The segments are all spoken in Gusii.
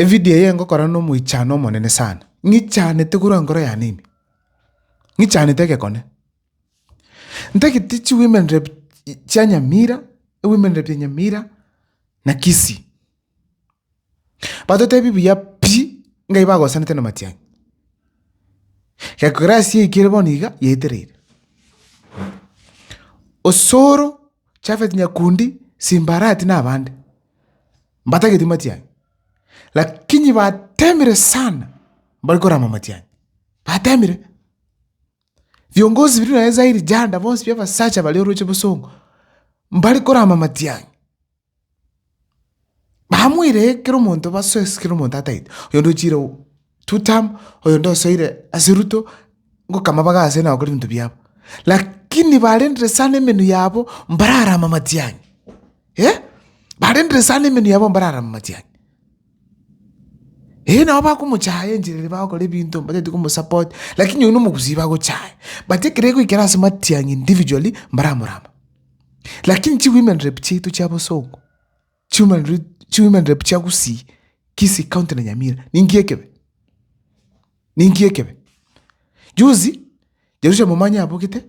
Evidio eye ngokora n'Omoichano omonene sana. Ng'ichanete korwa nkoro yane ime. Ng'ichanete egekone. Ntagete chi women rep chia Nyamira, women rep ya Nyamira na Kisii. Batotebi buya pi ng'a nigo bagosanete namatiang'i. Gekorasi eke ere bono iga yaetereire. Osoro, Japhet Nyakundi, Simba Arati na abande, mbatageti matiang'i, lakini batemire sana mbari korama amatiang'i, batemire. Viongozi biria nonye Zairi Janda bonsi bia abasacha baria oroche bosongo, mbari korama amatiang'i. Bamoiree kera omonto basoe ase kera omonto atagete, oyonde ochiire two term, oyonde osoire ase ruto, ngoka amabaga aase na gokora ebinto biabo. Lakini barendire sana emenwa yabo mbararama matiang'i, eh, barendire sana emenwa yabo mbararama matiang'i. Ee nabo bakomochaya enchera eria bagokora ebinto mbatagete komosupport lakini oyio nomogusii bagochaya but ekero egoikera ase matiang'i individually mbaramorama. Lakini chiwomen rep chiaito chia bosongo chiwomen rep chiwomen rep chia gusii kisii county na nyamira ninki ekebe? Ninki ekebe? Juzi Jerusha momanye abogete,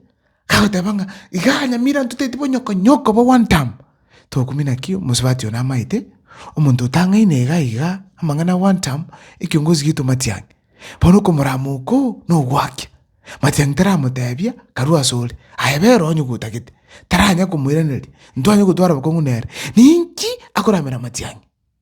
agoteba ng'a iga anyamire antwe taeti bonyoko nyoko bo one term. Togokumi naki omosubati oyo namaete, omonto otang'aine iga iga amang'ana one term, ekiongozi gieto matiang'. Bono okomorama oko nogoakia. Matiang' taramotebia karue asore, aye bera onye gotagete. Taranya komoiraneria, ntwanye gotwara bokong'u nere. Ninki akoramera matiang'i?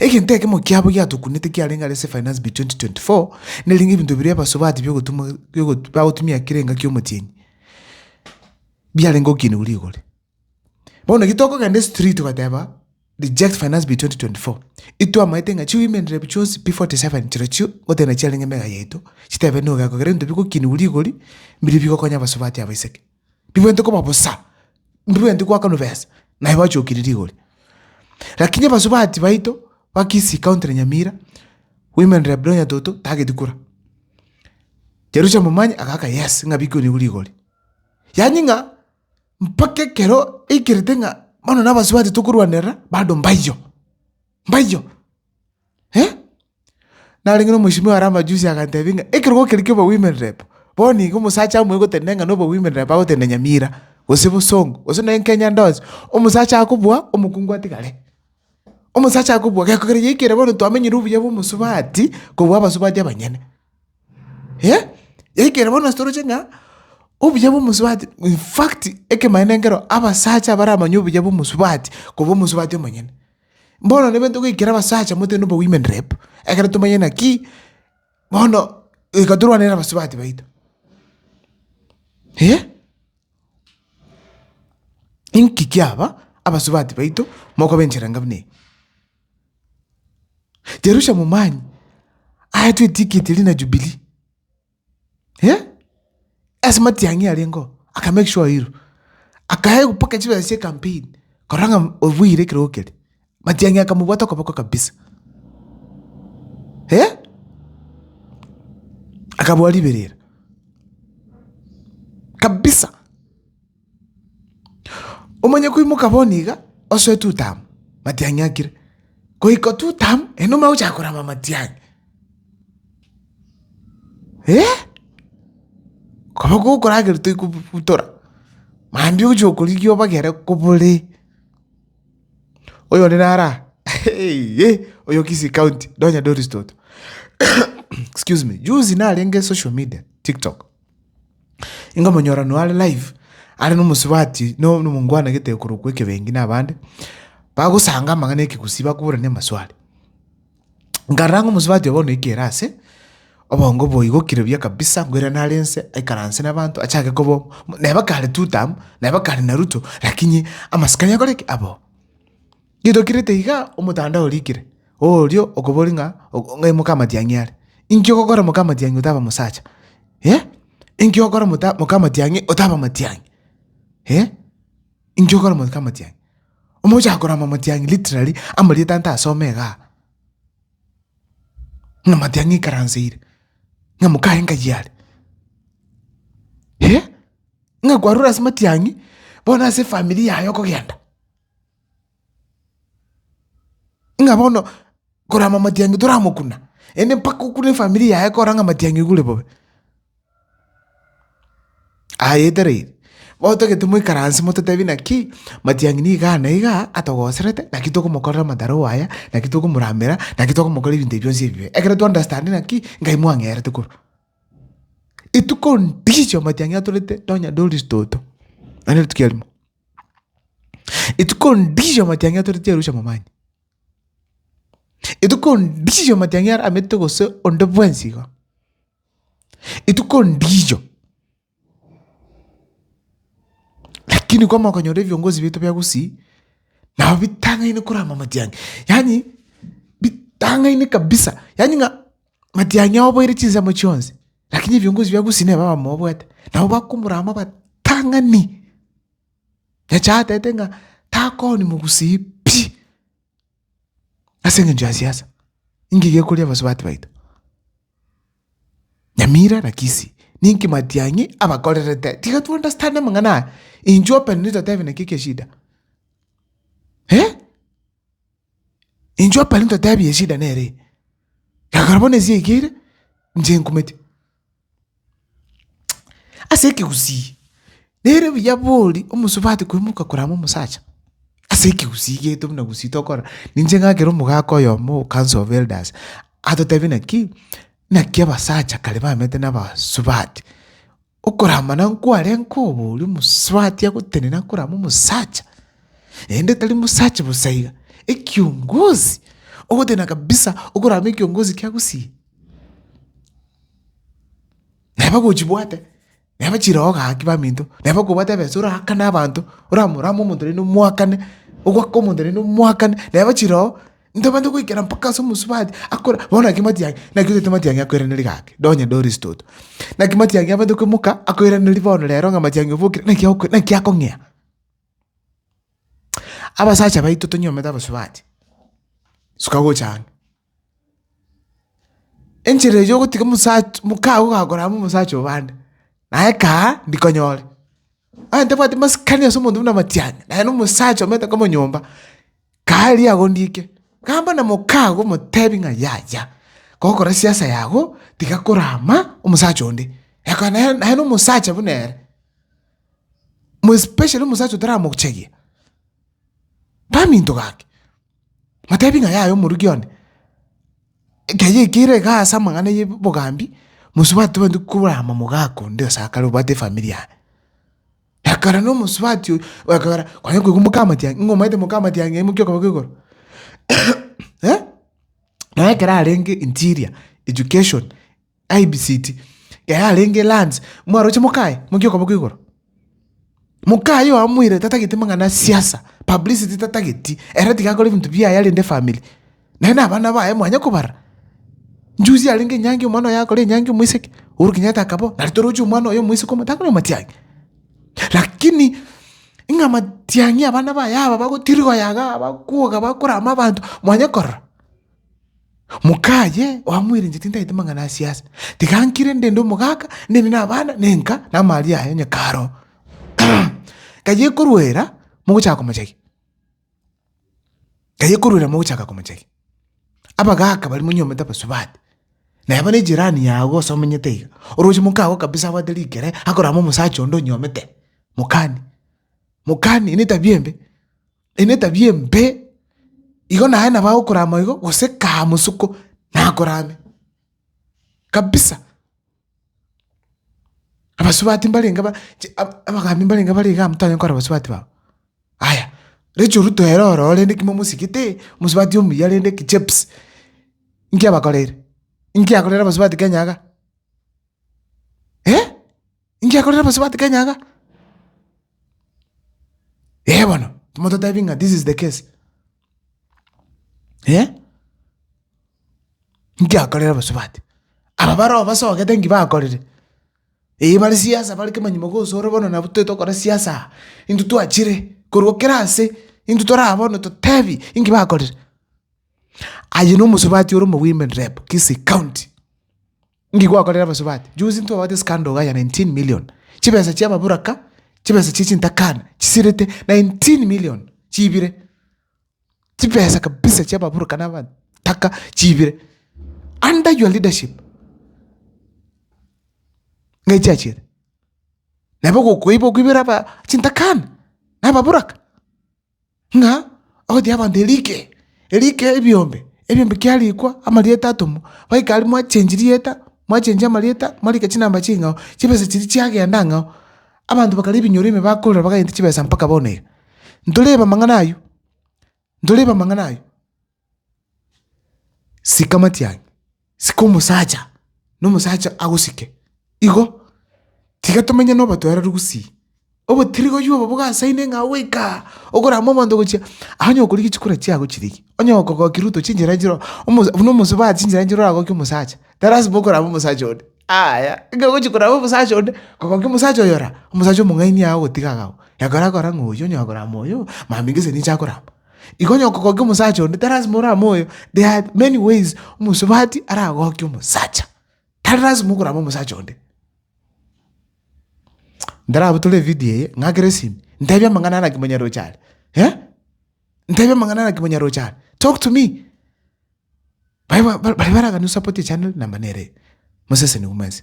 Egento ekemo kiabo giatokunete kiarenge are ase Finance Bill 2024 nerenge ebinto biria ebasubati biogotumwa biogotu bagotumia kera engaki y'omotienyi biarenge gokinigwa rigore. Bono naki tokogenda estriti goteeba reject Finance Bill 2024 itwamaete ng'a chi-women rep chionsi P47 chirochio gotenda chiarenge emega yaito chitebe na ogeko kera ebinto bigokinigwa rigori mbiria bigokonya abasubati abaiseke. Ndibwenereti koba bosa, ndibwenereti goakanwa besa, naye bachokire rigori. Lakini abasubati baito ba Kisii county na Nyamira, women rep Donya Toto tageti kura. Jerusalem Omanyi agaaka yes ng'a bikonigwe rigori. Yaani ng'a mpaka ekero aikerete ng'a bono na abasubati tokorwanerera, bado mbaiyo. Mbaiyo! Eh! Narenge nomoisimwa ore amajusi agantebi ng'a ekerogo keria kia obowomen rep, bono iga omosacha omoe gotende ng'a nobowomen rep agotende Nyamira, gose Bosongo, gose nonya Kenya ndosi, omosacha akobua, omokungu atigare. Omosacha akobua geko keria yaikire bono twamenyire obuya bwa omosubati kobua abasubati abanyene. Eh! Yaikire bono ase toroche ng'a obuya bwa omosubati, in fact, ekemaene nkero abasacha abaramanya obuya bwa omosubati kobua omosubati omonyene. Bono nabo togoikera abasacha motebi noboa women rep, ekero tomanye naki, bono goika torwane na abasubati baito. Eh, inki kiaba abasubati baito mokoba enchera enga buna eye? Jerusha momanye, aye twetiketi rina Jubilee. Ase matiang'i arengeo aka make sure oirwe, akaegwa mpaka chibesa chia ecampaign korora ng'a obuire ekerogo keria, matiang'i akamobwata okoboko kabisa. Akaboa riberera kabisa. Omanye koimoka bono iga osoe Tutamu, matiang'i akire. Goika Tutamu ere nomanya gochaka korama amatiang'i. Eh! Koba gokoragera toikobutora, mambia ogochia gokorigia obagere kobore. Oyore naro aa, eyie, oyo Kisii county, nonya Doris toto. Excuse me, juzi narenge social media, TikTok. Nkamonyora no are live, are nomosubati na omongwanegete okorokwa ekebengi na abande, bagosanga amang'ana ekegusii bakoborana amaswali. Nkarora ng'a omosubati obo bono oikire ase, obongo boigokire buya kabisa nkoirana are inse, aikaranse na abanto achake koba omo, neba kare two term, neba kare Naruto, lakini amasikani akore ki? Aba oo. Gitokirete iga omotandao orikire, Oyorio okoboria ng'a ng'ai mokamatiang'i are? Inki ogokora mokamatiang'i otaba mosacha? Inki ogokora mota mokamatiang'i otaba matiang'i? Inki ogokora mokamatiang'i? Omochaka korama matiang'i literally amarieta nta asome igaa, ng'a matiang'i ikaranseire, ng'a mokaye nkayi are, ng'a kwarure ase matiang'i bono ase efamiri yaye okogenda. Ng'a bono korama matiang'i toramokuna, yaani mpaka okune efamiri yaye kora ng'a matiang'i ogure bobe. Ayetereire, otagete moikaranse mototebi naki matiang'i nigo igaa na igaa atogoserete naki tokomokorera amataroo aya, naki tokomoramera, naki tokomokorera ebinto ebi bionsi ebibe. Ekero twa understand ng'aki ngai mwang'erete korwa etuko ndicho matiang'i atorete nonya doris toto, naende rituko eria rimo. Etuko ndisicho amatiang'ia toreti Arusha momanyia. Etuko ndisicho amatiang'ia are amerite gose onde bwensi iga. Etuko ndisicho, lakini kwamanya konyora ebiongozi biaito bia Gusii, nabo bitang'aine korama amatiang'ia. Yaani bitang'aine kabisa, yaani ng'a matiang'ia oboire chinsemo chionsi. Lakini ebiongozi bia Gusi neba abamobwate, nabo bakomorama abatang'ani. Nyasae atete ng'a takooni mogusi pi ase engencho ya siasa, ninki gekoria abasubati baito? Nyamira na Kisii, ninki Matiang'i abakorerete? Tiga to understand amang'ana aya, inchuo openly totebe naki eke eshida. Inchuo pari ntotebi eshida nere eye. Ekero bono esi yaikeire, inche nkumeti. Ase ekegusii, nere buya bori omosubati koimoka korama omosacha, ase ekegusii geito buna gusii tokorora, ninche ng'akere omogaka oyomo o council of elders, atotebia naki, naki abasacha kare bamete nabasubati, Okoramana nkware nkoboria omosubati agotenena korama omosacha, naende tari mosacha bosa iga, ekiongozi ogotenena kabisa okorama ekiongozi kiagusii. Naye bagochibwate, naye bachire oo gaki baminto, naye bakobwate ebesa oraakane abanto, oramorame omonto naende omoakane, ogwake omonto naende omoakane, naye bachire oo Ntobache goikera mpaka ase omosubati akore bono naki matiang'i naki otagete matiang'i akoiranerie gaki nonye doris toto. Naki matiang'i abande koimoka akoiranerie bono rero ng'a matiang'i obokire naki oko naki akong'ea. Abasacha baito tonyomete abasubati, suka gocha ang'e. Enchera eyo ogotiga omosacha mokago ogakora amo omosacha obande, naye kaa ndikonyore Onye ntabwati masikani ase omonto buna amatiang'i, na aye na omosacha omanyete koba nyomba, kaaria agondiike, gamba na mokaago omotebi ng'a yaya, gokora siasa yago, tiga korama omosacha onde. Ekaba naye naye na omosacha buna ere, mo especially omosacha otaramochegia, kaminto gake, matebi ng'a yaya omoruki one. Ekeyo ekeira iga ase amang'ana ya obogambi, mosubati tobwenereti kobua amamoga ako onde gose akare obwate efamiri yaye. Ekero na omosubati oyo okogera kwanya koigwa moka amatiang'i ng'a omanyete moka amatiang'i aye mokia okobeka igoro naye ekero arenge interior education. Aye bisiti, yaye arenge eranse, mwaroche mokaye, mokie okoboko igoro. Mokaye oo amoire tatageti amang'ana a siasa, publicity tatageti, ere tiga akore ebinto biaye arende efamiri. Naye na abana baye mwanya kobarora. Njuzi arenge enyangi omwana oye akore enyangi omoiseke, Uhuru Kenyatta akaba oo, nare toroche omwana oye omoiseke omobe, takore omatiang'i. Lakini ng'a matiang'i abana baye aba bagotirigwa yaga, bakwoga, bakorama abanto, mwanya korora. Moka aye oamoirenche tintaete mang'ana a siasa. Tiga nkire ndende omogaka, ndende nabana, nenka, na amaaria aye onye karoo. Kayia ekoruera, mogochaka komochagia. Kayia ekoruera mogochaka komochagia. Abagaka baria monyomete abasubati, na eba ne jirani yago gose omenyete iga, oroche moka agwo kabisa abwate rikere, akorama omosacha onde onyomete, mokani, mokani, eye netabia embe. Eye netabia embe, igo naye nabo agokorama igo, gose kaa mosoko nakorame kabisa. Abasubati mbarenge ba chi ab- abagaambi mbarenge bare igaa motanyare kora abasubati babo. Aya, Rachel Ruto ere ororo rende ki momosigete, omosubati omuya rende ki Chebs, nki abakoreire? Nki akorera abasubati Kenya iga? Eh! Inki akorire bosubati kenyaga? Ee bono, timototebi ng'a this is the case, eh. Inki akorire bosubati? Aba baroo basogete nki bakorire, eyi bare siasa bare kemanyima gose ore bono nabo toete gokora siasa aa, intwe twachire korwa kera ase, intwe tore aa bono totebi inki bakorire. Aye na omosubati ore omogima in Rep. Kisii County. Inki gwakorera abasubati? Juzi ntwabwate scandal iga ya 19 million, chibesa chia ababuraka, chibesa chie chintakana chisirete 19 million chiibire, chibesa kabisa chia ababuraka na abataka chiibire under your leadership nigo chiachire. Nabo gokoiba okoibera aba chintakana na ababuraka. ng'a agoteebia abanto erike, erike ebiombe, ebiombe kiarikwa amarieta atomwa, baika aria mwachengi rieta, mwachengi amarieta, mwarika chinamba ching'ao, chibesa chiria chiagenda ang'ao, abanto bakaria ebinyoro ime bakorora baganyete chibesa mpaka bono iga. Ntorebe amang'ana ayio, ntorebe amang'ana ayio. Sika amatiang'i, sika omosacha, na omosacha agosike. Igo, tiga tomenye na obotoereru gusii. Obotirigoyio obo bogasaine ng'a goika okorama omonto gochia onye okorigia chikura chiago chirigia, onye okogokia ruto chinchera chire omo buna omosubati chinchera chire oragokia omosacha, talasima okorama omosacha onde aaya. Ekero ogochia korama omosacha onde, kogokia omosacha oyo ora, omosacha omong'aini yago ogotiga agao. Ekero akora ng'a oyo onye akorama oyo, mambia gese ninche akorama. Igo onye okogokia omosacha onde, tari lasima orame oyo, there are many ways omosubati aragokie omosacha, tari lasima okorama omosacha onde. Ntarabotore evidio eye, ng'akere esimi, ntebia amang'ana ara naki monyaroche are, eh? Ntebia amang'ana ara naki monyaroche are, talk to me. Baria ba- ba- baria baragani osapoti echannel namba nere eye, moseseniwe mwensi.